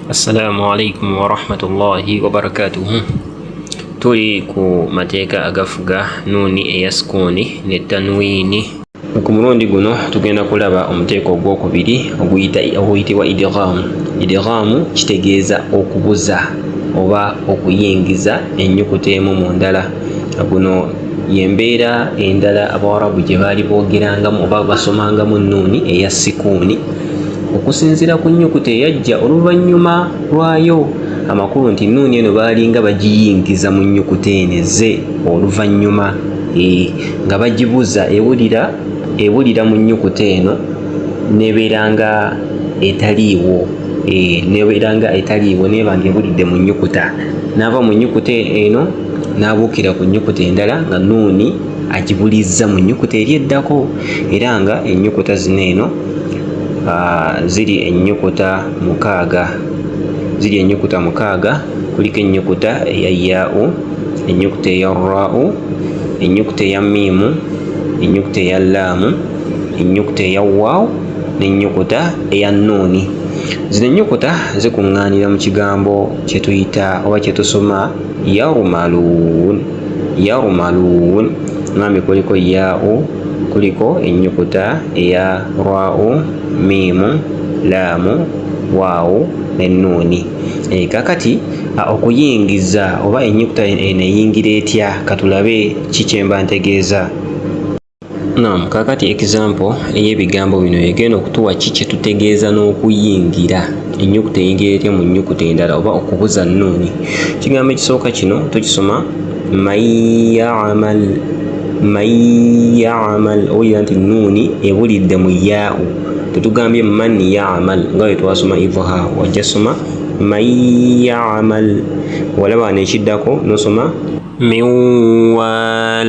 Assalamu alaikum warahmatullahi wabarakatuhu. Tuli ku mateeka agafuga nuuni eya sukuuni ne tanwiini. Ku mulundi guno tugenda kulaba omuteeko ogwokubiri oguyitibwa idighamu. Idighamu kitegeeza okubuza oba okuyingiza ennyukuta emu mu ndala. Guno yembeera endala Abawarabu gye baali boogerangamu oba basomangamu nuuni eya sikuuni. okusinziira ku nnyukuta eyajja oluvannyuma lwayo amakulu nti nuuni eno baalinga bagiyingiza mu nnyukuta eno ezze oluvannyuma eh, nga bagibuza ewulira ewulira mu nnyukuta eno nebeera nga etaliiwo eh, nebeera nga etaliiwo neeba nga ewulidde mu nnyukuta naava mu nnyukuta eno n'abuukira ku nnyukuta endala nga nuuni agibulizza mu nnyukuta eri eddako era nga ennyukuta zino eno ziri ennyukuta mukaaga ziri ennyukuta mukaaga kuliko ennyukuta eya yaau ennyukuta eya raau ennyukuta eya miimu ennyukuta eya laamu ennyukuta eya waawu n'ennyukuta eya nuuni zino ennyukuta zikuŋŋaanira mu kigambo kye tuyita oba kye tusoma yaumaluun yarumaluun mwami kuliko yaau kuliko ennyukuta eya rwau miimu laamu waawu n'ennuuni e, eh, kakati okuyingiza oba ennyukuta eno eyingira etya katulabe ki kyemba ntegeeza Naam, kaakati example ey'ebigambo bino egenda okutuwa ki kye tutegeeza n'okuyingira ennyukuta eyingira etya mu nnyukuta endala oba okubuza nnuuni. Ekigambo ekisooka kino tukisoma mayamal mayamal owulira nti nnuuni ebulidde mu yaau tetugambye man yamal nga bwe twasoma ivuha wajja soma mayamal walaba nekiddako nosoma miwal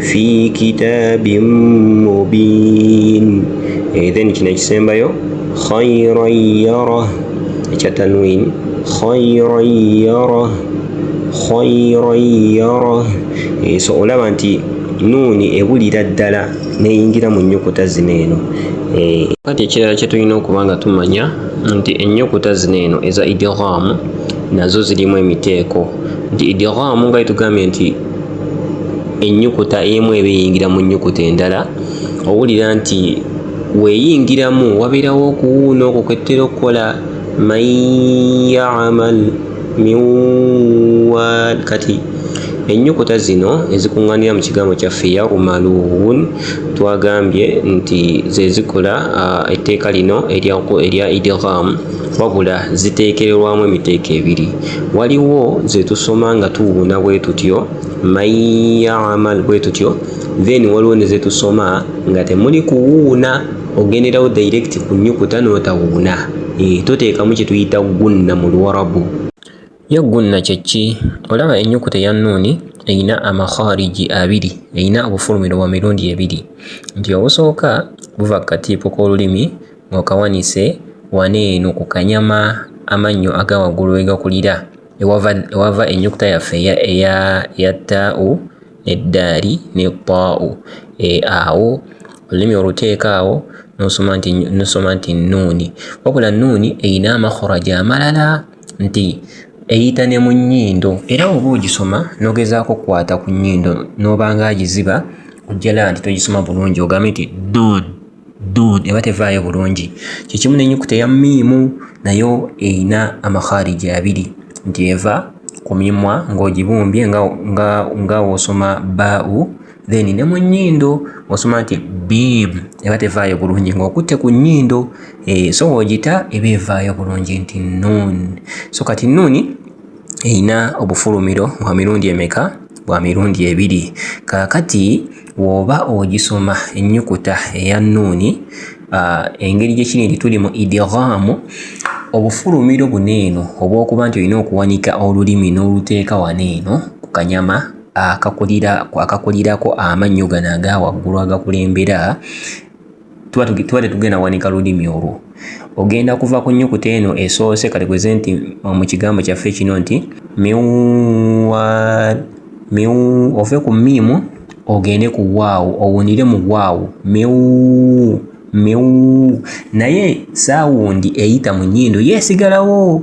fi kitabin mubin eh, then kino ekisembayo khairan yara ekya tanwin khairan yara khairan yara eh, so olaba nti nuuni ebulira ddala neyingira mu nnyukuta zino eno eh, kati ekirala kye tulina okuba nga tumanya nti ennyukuta zino eno eza idiraamu nazo zirimu emiteeko nti idiraamu nga itugambye nti ennyukuta emu eba eyingira mu nnyukuta endala owulira nti weeyingiramu wabeerawo okuwuuna okwo kwettera okukola man yamal miwal kati ennyukuta zino ezikuŋŋaanira mu kigambo kyaffe yaumaluun twagambye nti ze zikola etteeka lino erya idgham wabula ziteekererwamu emiteeko ebiri waliwo ze tusoma nga tuwuuna bwe tutyo mayamal bwe tutyo then waliwo ne ze tusoma nga temuli kuwuuna ogenderawo direct ku nyukuta n'otawuuna e, eh, toteekamu kye tuyita gunna mu luwarabu Yo gunna kye ki? Olaba ennyukuta eya nnuuni erina amakhariji abiri, erina obufulumiro bwa mirundi ebiri, nti obusooka buva ku katiipo k'olulimi ng'okawanise wano eno ku kanyama amannyo aga waggulu we gakulira, ewava, ewava ennyukuta yaffe eya, eya, eya taa'u ne ddaali ne taa'u. E, awo olulimi oluteeka awo n'osoma nti, n'osoma nti nnuuni. Wabula nnuuni erina amakharaji amalala. nti eyita ne mu nnyindo era oba ogisoma n'ogezaako okukwata ku nnyindo n'obanga agiziba ojjala nti togisoma bulungi ogambe nti dud dud eba tevaayo bulungi kyekimu n'ennyukuta eya miimu nayo erina amakhariji abiri nti eva ku mimwa ng'ogibumbye nga osoma bau then ne mu nnyindo osoma nti bib eba tevaayo bulungi ng'okutte ku nnyindo eh, so ng'ogita eba evaayo bulungi nti nuun so kati nuuni erina obufulumiro bwa mirundi emeka bwa mirundi ebiri kaakati woba ogisoma ennyukuta eya nuuni ah, engeri gye kiri nti tuli mu idiraamu obufulumiro buno eno obw'okuba nti olina okuwanika olulimi n'oluteeka wano eno ku kanyama akakulirako amannyo gano aga waggulu agakulembera tuba tetugenda wanika lulimi olwo ogenda kuva ku nnyukuta eno esoose kati kweze nti mu kigambo kyaffe kino nti miwa miwu ove ku miimu ogende ku waawo owunire mu waawo miwu miwu naye saawundi eyita mu nnyindo yeesigalawo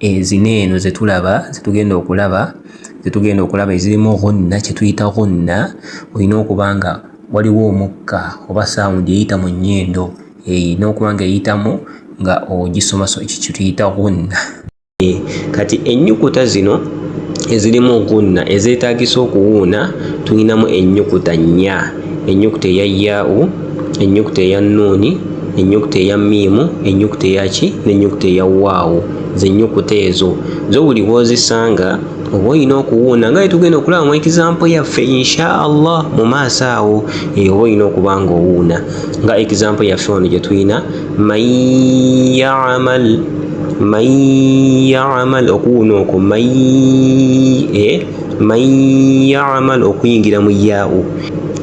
ezina eno zetulaba zetugenda okulaba zetugenda okulaba ezirimu ghunna kyetuyita ghunna olina okuba nga waliwo omukka oba sawundi eyita mu nnyindo erina eh, okuba nga eyitamu nga ogisoma ekyo kyetuyita ghunna eh, kati ennyukuta zino ezirimu ghunna ezeetagisa okuwuuna tulinamu ennyukuta nnya ennyukuta eya yaau ennyukuta eya nuuni ennyukuta eya miimu ennyukuta eyaki n'ennyukuta eya waawo zennyukuta ezo zo buli w'ozisanga oba olina okuwuuna nga yetugenda okulaba mu ekizampo yaffe insha allah mu maaso awo eh, oba olina okuba nga owuuna nga ekizampo yaffe wano gye tulina man yamal man yamal okuwuuna okwo man eh, okuyingira mu yaawo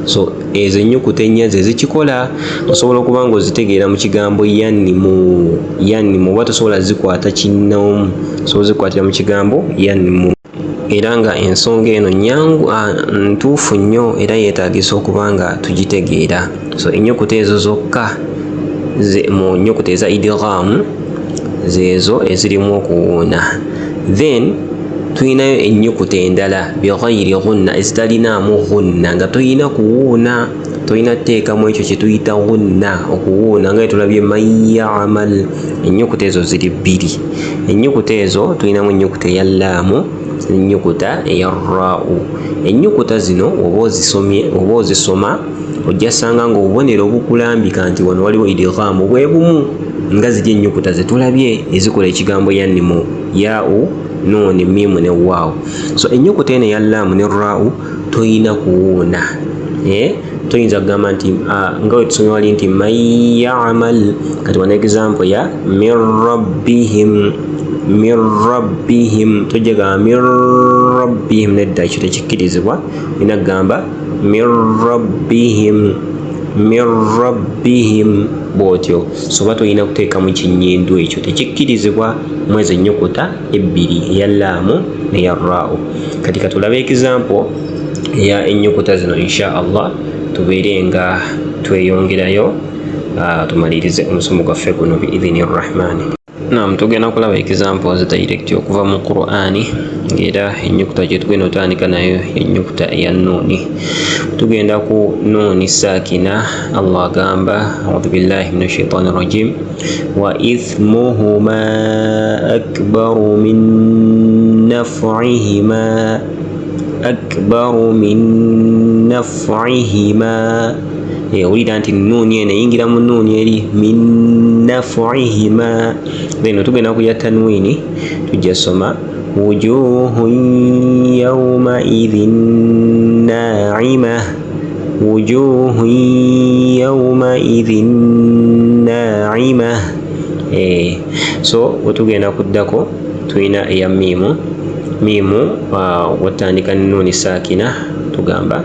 so ezo ennyukuta ennya ze zikikola osobola okuba nga ozitegeera mu kigambo yannimu yannimu oba tosobola zikwata kinnoomu osobola zikwatira mu kigambo yannimu era nga ensonga eno nyangu ntuufu nnyo era yeetaagisa okuba nga tugitegeera so ennyukuta ezo zokka mu nnyukuta eza idiraamu zeezo ezirimu okuwuuna then tulinayo ennyukuta endala bighayiri ghunna ezitalinaamu ghunna nga tolina kuwuuna tolina kuteekamu ekyo kye tuyita ghunna okuwuuna nga etulabye mayamal ennyukuta ezo ziri bbiri ennyukuta ezo tulinamu ennyukuta eya laamu ennyukuta eya rrau ennyukuta zino oba ozisomye oba ozisoma ojja sanga nga obubonero obukulambika nti wano waliwo idghaamu bwe bumu nga ziri ennyukuta ze tulabye ezikola ekigambo yannimu yaau nuuni miimu ne waawu so ennyukuta eno eya laamu ne raau tolina kuwuuna eh? toyinza kugamba nti ah, nga wetusomye wali nti man yamal kati wana example ya min rabbihim min rabbihim tojjagamba min rabbihim nedda ekyo tekikkirizibwa olina kugamba min rabbihim min rabbihim bwotyo soba tolina kuteekamu kinyindu ekyo tekikkirizibwa mwezi ennyukuta ebbiri eya laamu neya raawo kati katulabe ekizampo eya ennyukuta zino insha allah tubeere nga tweyongerayo ah, tumalirize omusomo gwaffe guno biidhini rrahmaani Naam, tugenda kulaba examples direct okuva mu Qur'ani ng'era ennyukuta gye tugenda otandika nayo ennyukuta eya nuuni. Tugenda ku nuuni saakina, Allah agamba audhu billahi min ashaitani rajim wa ithmuhuma akbaru min naf'ihima akbaru min naf'ihima owulira nti nuuni eno eyingira mu nuuni eri minafuihima beno tugenda kuya tanwini tujja soma wujuhu yaumaidhin naima wujuhu yaumaidhin naima eh, so wetugenda kuddako tulina eya miimu miimu uh, watandika nuuni saakina tugamba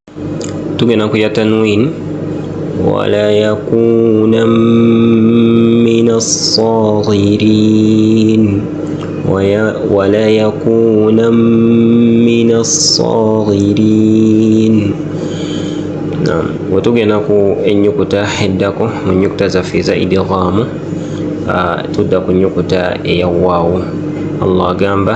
tugenda kuya tanwin wala yakuna min assagirin wala yakuna min assagirin wetugenda ku enyukuta eddako mu nyukuta zaffe eza idighamu tudda ku nyukuta eya waawo allah agamba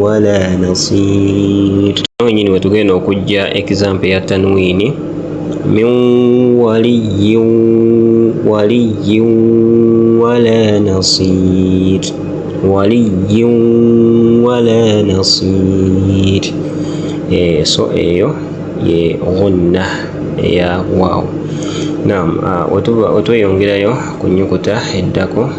wala nasir kino wenyini wetugenda okujja example ya tanwini min waliyin waliyin wala nasir waliyin wala nasir eh, so eyo ye ghunna eya waawo naam ah, wetweyongerayo ku nyukuta eddako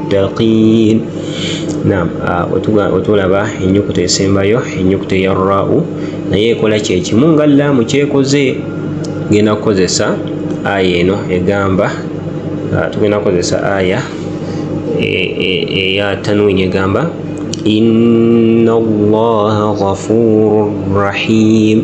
muttaqin nam otulaba enyukuta esembayo enyukuta eya rau naye ekola kyekimu nga laamu kyekoze genda kukozesa aya eno egamba ah, tugenda kukozesa aya e, e, eya tanwini egamba inna allaha ghafuru rahim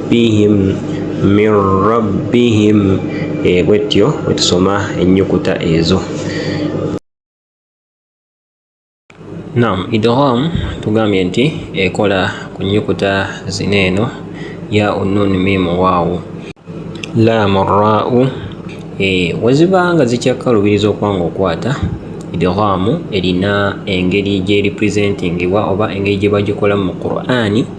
rabbihim min rabbihim e, bwetyo bwetusoma ennyukuta ezo nam idgham tugambye nti ekola ku nnyukuta zina eno ya unnun mimu waawu laamu raau e, weziba nga zikyakkalubiriza okwanga okwata idghaamu erina engeri gyeripresentingibwa oba engeri gye bagikolamu mu qur'ani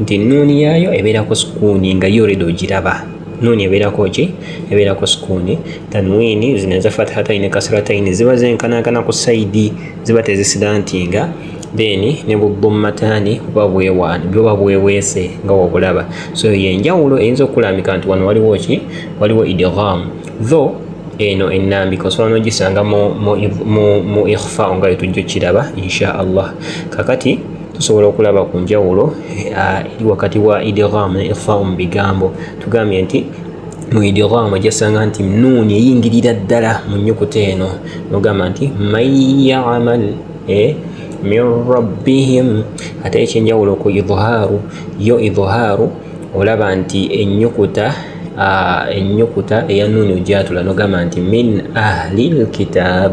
nti nnuuni yaayo ebeerako sukuuni nga yo redi ogiraba nuuni ebeerako ki ebeerako sukuuni tanwiini zino eza fatihataini ne kasirataini ziba zenkanankana ku saidi ziba tezisidantinga then ne bubbummataani buba bwewaana buba bweweese nga wobulaba so yenjawulo eyinza okukulambika nti wano waliwo ki waliwo idgham though eno ennambika osobola n'ogisanga mu ikhfa nga wetujja okiraba insha allah kakati tusobola okulaba ku njawulo ah, eri wakati wa idgham ne ikhfau mu bigambo tugambye nti mu idgham ojasanga nti nuuni eyingirira ddala mu nnyukuta eno nogamba nti man yamal eh, min rabbihim ate ekyenjawulo ku idhaaru yo idhaaru olaba nti ennyukuta ah, ennyukuta eya nuuni ojatula nogamba nti min ahli lkitaab